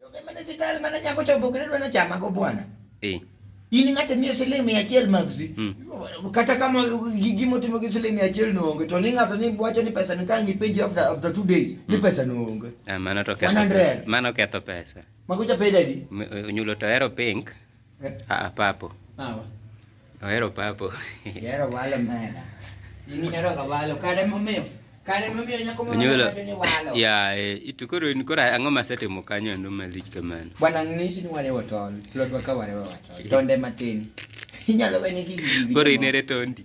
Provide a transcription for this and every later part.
Joge mane sital mane nyako chopo kendo dwano chama go bwana. Eh. In ng'ate mia siling mia achiel magzi. Hmm. Kata kama gimo timo gi siling mia achiel no onge to ni ng'ato ni wacho ni pesa ni ka ngi penji after after 2 days ni hmm. pesa no onge. Ah mano to ketho. Mano ketho pesa. Mago ja peda di. Onyulo to hero pink. Eh? Ah, papo. Papo. Ohero papo. Ihero walo mena. In ihero ga walo. Kare momiyo. Kare momiyo nyako moro wacho ni walo. Ya, eh, itu koro in koro ang'o masetimo kanyo endo malich kamano. Bwana ng'isi ni warewo tol. Plodwa ka warewo tol. Tonde matin. Inyalo wene gigi. Koro inere tondi.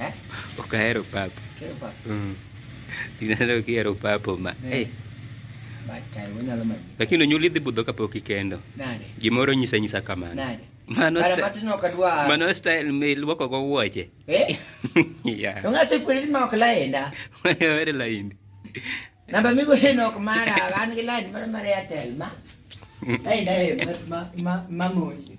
Eh? Ok ahero papo. Kero papo. Mm. Tinaneno kihero papo ma. Eh. Hey. Lakini onyuol idhi budho kapok ikendo. Nade? Gimoro nyisa nyisa kamano. Nade? Mano Ara matino kadwa. Mano style me luoko go wuoche. Eh? yeah. Ongase kweli ma ok laenda. Were laindi. Namba migo sheno ok mara, an gi lain mara mara Airtel ma. Laenda e ma ma ma monje.